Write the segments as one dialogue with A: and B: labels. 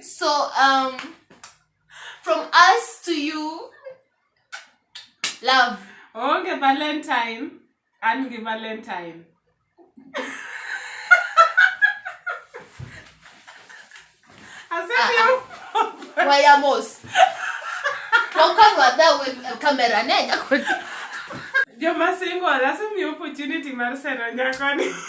A: So um from us to you love. Onge oh, Valentine,
B: an gi Valentine.
A: Asema wayamos. Wakawa da we kamera ne. Joma
B: single asemi opportunity mar sero nyakoni.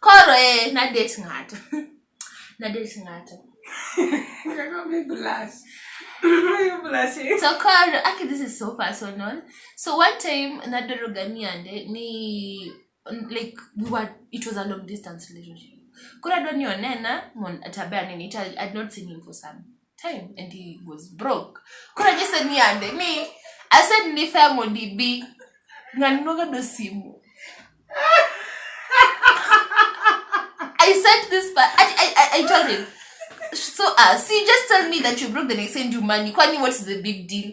A: Koro eh, nadet ng'ato. nadet ng'ato.
B: so koro aki
A: this is so personal so one time nadoro ganiande ni like we were it was a long distance relationship koro adwa ni onena mon atabe anene it, I'd not seen him for some time and he was broke koro nyise ni ande ni ased ni fea mondo ibi ng'ani nogado simu I sent this but I, I, I, I told him so uh, see just tell me that you broke the next send you money kwani what's the big deal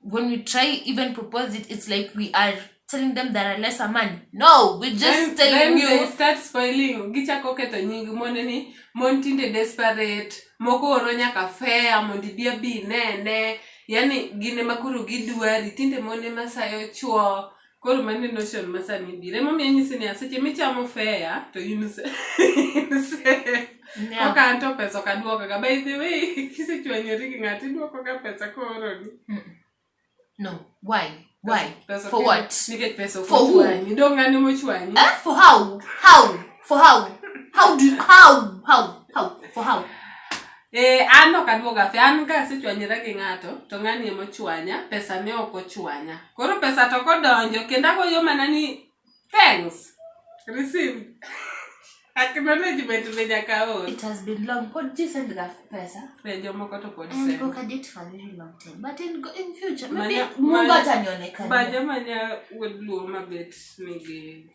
A: when we try even propose it it's like we are telling them that are lesser man no we just then, telling then you they start spoiling
B: gichako ketho nying mon ni mon tinde desperate moko oro nyaka fea mondo ibi abi nene yani gin ema koro gidwari tinde mon ema sayo chwo Koro mane notion ma sani biro emomiyo anyisi niya seche michamo fea to in se- in safe. Niya, Koka an to pesa ok aduokoga by the way kisechwanyori gi ng'ato iduokoga pesa kooroni no
A: why why Pesa for ok-
B: what nikech
A: pesa ok For who?
B: ochwanyi dong'
A: ng'ane
B: mochwanyi eh? for how
A: how for how how do you, how how how for how Eh, an
B: ok aduoga fe an ka asechwanyra gi ng'ato to ng'ani ema ochwanya pesa ne ok ochwanya koro pesa to kodonjo kendo agoyo mana ni thanks receive acknowledgement be nyaka or It has been long. Pod
A: ji send ga pesa. be jomoko to pod And
B: send go kadit for a very
A: long time. But in, go- in future, maybe Manya- Mungu manya- atanionekana. ba joma nya wuod luo
B: mabet nigi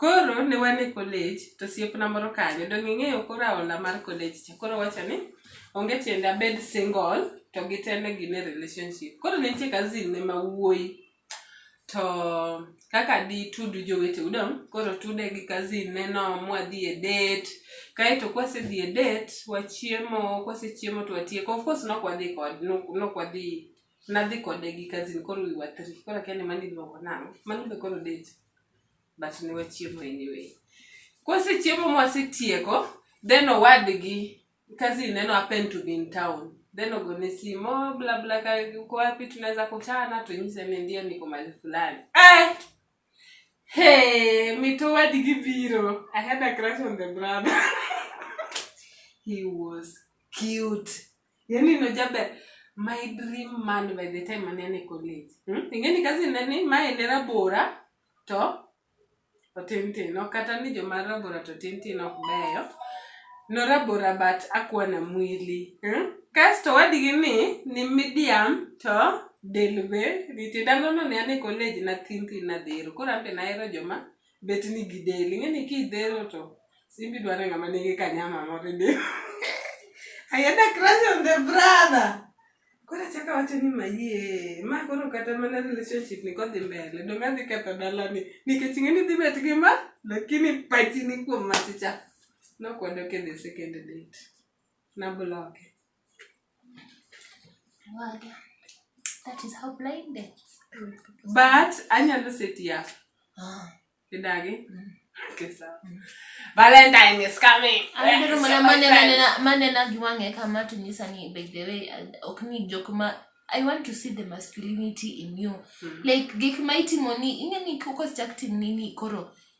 B: Koro ne wan e kolej to osiepna moro kanyo, donge ing'eyo koro aola mar kolej cha. Koro owacho ni onge tiende abed single to gi te ne gin e relationship. Koro ne nitie cousin ne ma wuoyi to kaka ditudu joweteu dong' koro otude gi cousin ne no mwadhi e date. Kaeto kwasedhi e date, wachiemo, kwasechiemo to watieko. Of course nok wadhi kode, nok nok wadhi, nadhi kode gi cousin koro we were three. Koro akia ni mano iluongo nang'o, mano be koro date? but ne wachiemo anyway. Kwasechiemo mwasetieko, then owadgi cousin neno happened to be in town. Then ogone simu, oh, bla bla ka uko wapi tunaweza kutana, tunyise mimi ndiye niko mahali fulani. Eh! Hey, mito wadigi biro. I had a crush on the brother. He was cute. Yaani no jaber my dream man by the time mane ane college. Hmm? Ingeni kazi nani mae ne rabora to otintin. Ok kata ni joma rabora to tintin ok beyo. No rabora but akwa na mwili. Hmm? Kasto wadigi ni ni medium to del be nitie. Dalo no ne ane college na tintin na dhero. Koro ambe na hero joma bet ni gidel ing'eni kidhero to simbi dwaro ng'ama nigi kanyama moro e del I had a crush on the brother koro achaka wacho ni mayie ma koro kata mana relationship ni kodhi mbele donge adhi ketho dalani nikech ing'eni dhi bet gi ma lakini pachi ni kuom machicha nokwadok e the second date nabloke
A: That is how blind they But
B: anyalo seti yako. Ah. Kidagi. Mm. Okay, sawa. Mm. Valentine is coming. Andero ah, mana manena
A: manena giwange kama tunisa ni by the way uh, ok ni jok ma I want to see the masculinity in you. Mm. Like gik ma itimo ni ing'e ni koko sichak tim nini koro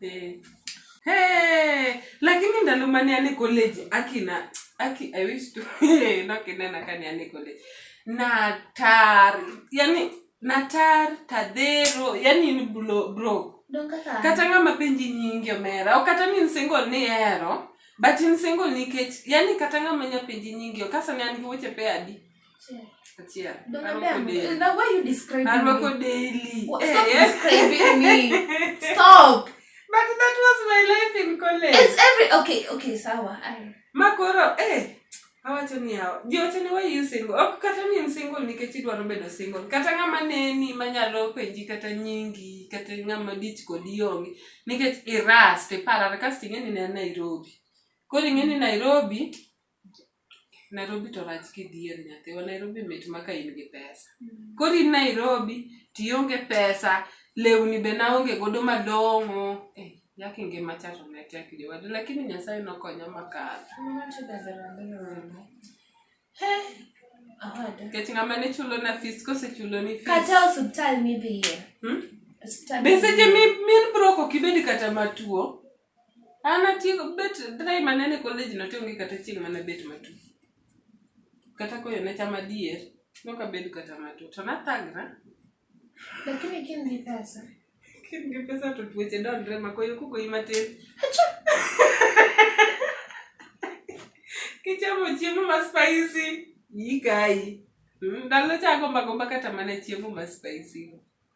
B: Eh. Hey, lakini ndalo mane ane college akina aki I wish to nakinena kani ane college natar yani natar tadhero yani ni blo bro kata ng'ama penji nyingi omera o kata ni nsingo ni ero but nsingo nikech yani kata ng'ama nya penji nyingi okasa ne an gi weche pe adi Achia. Ndo Arwako madam, daily.
A: now why you describing Arwako me? daily.
B: What- Eh, Stop eh.
A: describing me. Stop. But that
B: was my life in college. It's every okay, okay,
A: sawa. I- makoro
B: eh awacho ni yawa jiote ni wayu single ok kata ni in single nikech idwaro bedo single kata ng'ama neni manyalo penji kata nyingi kata ng'ama dich kodi onge nikech irast iparare kasto ing'e ni ne nairobi koro ing'e ni nairobi Nairobi to rach kidhier nyathiwa. Nairobi mit ma ka in gi pesa. Koro in Nairobi to ionge pesa, lewni be naonge godo malong'o. Eh, yaki ngima cha to ne tek jowadu. Lakini Nyasaye nokonya makalo. Nikech ng'ama ne chulona fis kosechuloni fis. Kata osiptal
A: midhiye. Hmm? Osiptal Be
B: seche mi- min brok ok ibed kata matuo. An atieko bet time manene e college no to onge kata chieng' mane abet matuo. Kata koyo ne chama adier, nok abedo kata matuo. To nathagora.
A: Lakini ka in gi pesa. Ka in gi pesa
B: to tuoche dondre ma koyo kogoyi matin. Kichamo chiemo ma spicy, iyi kayi. Mm, Ndalo cha agomba agomba kata mana chiemo ma spicy.